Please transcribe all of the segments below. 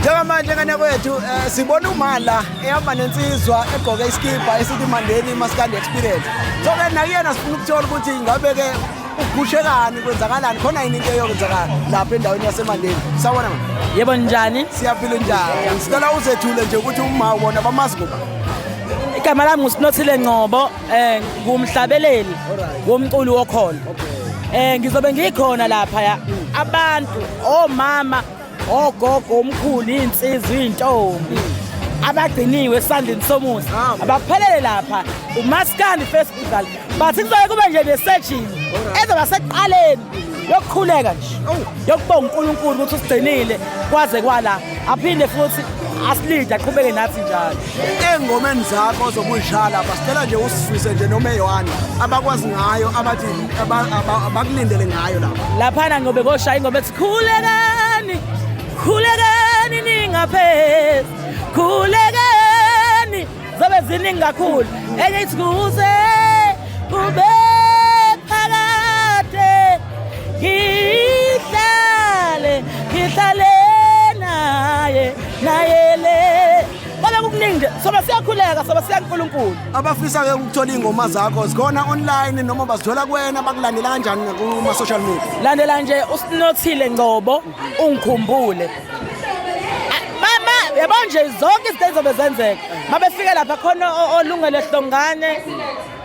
njengamanje ngane kwethu um eh, sibona umala ehamba nensizwa egqoke isikibha esithi mandeni masikandi experience so ke nakuyena sifuna ukuthola ukuthi ngabe-ke ugushelani kwenzakalani khona yini into eyokwenzakala lapha endaweni yasemandeni sawona ma yebo njani siyaphila njani sicela uzethule nje ukuthi uma wona bamazi ngoba igama lami ngusinothile ngcobo eh ngumhlabeleli womculi wokholo eh ngizobe ngikhona lapha ya abantu omama ogogo omkhulu insizwa intombi abagciniwe esandleni somuzi ah, abaphelele lapha umaskandi festival bathi kuzobe kube nje nesejini ezoba sekuqaleni yokukhuleka nje yokubonga uNkulunkulu ukuthi usigcinile kwaze kwala aphinde futhi asilide aqhubeke nathi njalo engomeni zakho ozobuyishala basicela nje usisuse nje noma eyohani abakwazi ngayo abathi abakulindele ngayo lapha laphana ngobe koshaya ingoma ethi khulekani khulekani ningaphezi khulekani zobe ziningi kakhulu enye ithi kuze kube phakade ngihlale ngihlale naye naye le Bale kukuningi nje soba siyakhuleka soba siya kuNkulunkulu abafisa ke ukuthola ingoma zakho zikhona online noma bazithola kuwena bakulandela kanjani kuma social media landela nje usinothile ngcobo ungikhumbule yabo nje zonke izinto ezizobe zenzeka mabefike lapha khona olungele hlongane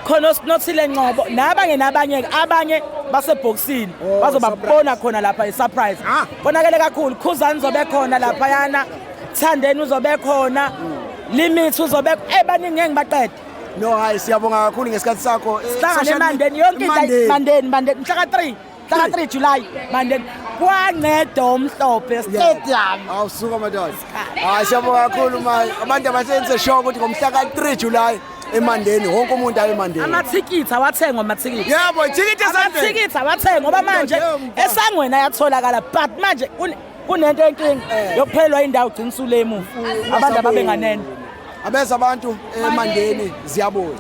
khona osinothile ncobo nabanye nabanye abanye basebhokisini oh, bazobabona khona lapha isurprise ah. konakele kakhulu khuzani zobe khona lapha yana thandeni uzobe khona hmm. limit uzobe ebaningi ngeke ngibaqede no hayi siyabonga kakhulu ngesikhathi sakho eh, sihlangane emandeni yonke into mandeni mandeni mhlaka 3 Hlaka 3 July mandeni kwanceda omhlophe stadium. Awusuka madoda. Hayi siyabonga kakhulu manje. Abantu abasenze show ukuthi ngomhla ka 3 July emandeni wonke umuntu aye emandeni amathikithi awathengwa amathikithi yebo ithikithi esandleni amathikithi awathengwa ngoba manje esangweni ayatholakala but manje kunento enkinga eh. yokuphelelwa indawo ugcina usulemuva abantu ababenganene abeza abantu emandeni ziyabuya